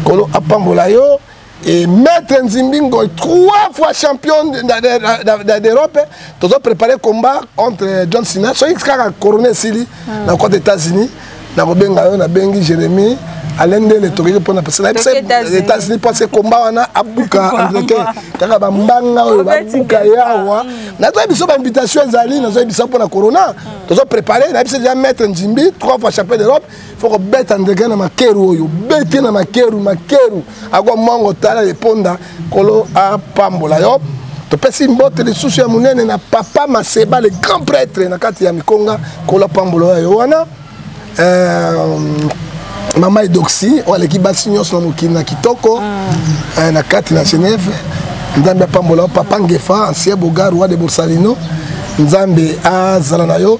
[SPEAKER 1] kolo apambola yo Et Maître Nzimbingo, trois fois champion d'Europe, nous avons préparé le combat entre John Cena, celui qui a couronné Sili, hmm. dans le côté États-Unis, dans le Bengayo, dans le Bengi, Jérémy, alain ndele tokeki mpona états-unis mpo se komba wana abuka angleterre kaka bambanga oyo babuka ye awa nazoyebi biso bainvitation ezali nazoyebi biso mpona corona tozo prépare nayebi se deja maître nzimbi trois fois champion d'europe fo kobeta ndeke na makeru oyo bete na makeru makeru akwa mwango tala eponda kolo apambola yo topesi mbote lisusu ya monene na papa maseba le grand prêtre na kati ya mikonga kolo apambola oyo yo wana euh, mama edoxi oyo aleki basi nyonso na mokili na kitoko ah. euh, na kati na genève nzambe apambola yo papa ngefa ancien bogar roi de borsalino nzambe azala na yo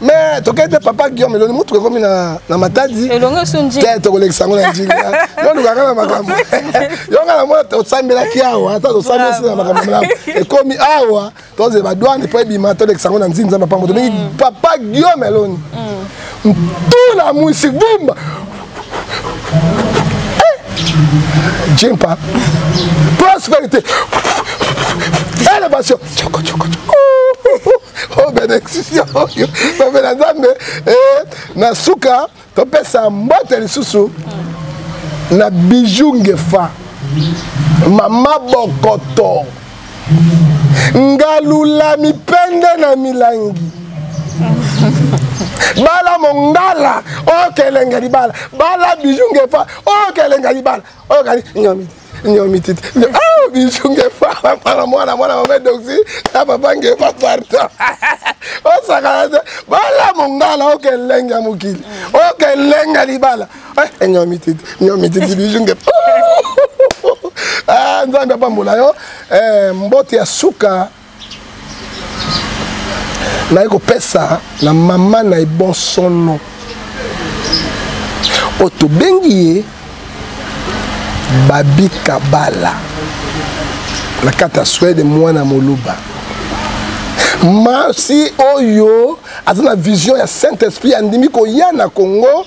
[SPEAKER 1] mais tokei te papa guillaume eloni motuka ekomi na matadi te tokolekisa yango na njili yo lukaka na makambo yonga na mona tosambelaki awa ata tosambelasi na makambo malamu ekomi awa tozela badwane mpo ebima tolekisa yango na nzini nzambe apambo tobengi mm. papa guillaume eloni mm. ntula mwisi vumba eh! jimpa prosperité elevation o benediction oyo babe na nzambe eh, na suka topesa mbote lisusu na bijou ngefa mama bokoto ngalula mipende na milangi bala mongala oyo kelenga libala bala bijou ngefa oyo kelenga libala oyo kali nyomi titi ah bijou nge fala mwana mwana mwana mama doxi na papa nge pa pardon osakana te bala mongala oke elengi ya mokili oke elengi ya libala eh, nyomi titi nyomi titi bijou nge ah, nzambe apambola yo eh, mbote ya suka naye kopesa na mama na ye bonsono oyo tobengi ye babi kabala na kati ya swede mwana moluba masi oyo aza na vision ya saint esprit andimi koya na congo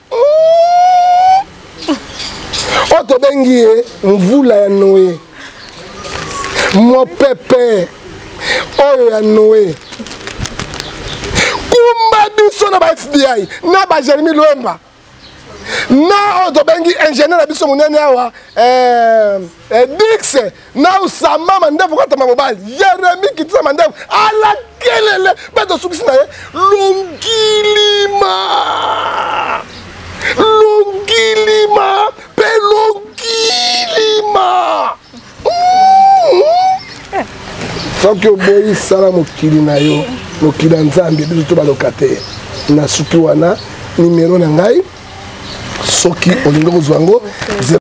[SPEAKER 1] oyo tobengi ye mvula ya noe mopepe oyo ya noe kumba biso na ba fbi na ba jeremi lwemba na oyo tobengi ingénieur na biso monene awa eh, eh, dix na osamba mandefu kata mabobali yeremi kitisa mandefu alakelele mpe tosukisi na ye longilima longilima mpe longilima soki oboyi sala mokili na yo mokili ya nzambe biso to baloka te nasuki wana nimero na ngai soki olingi kozwa yango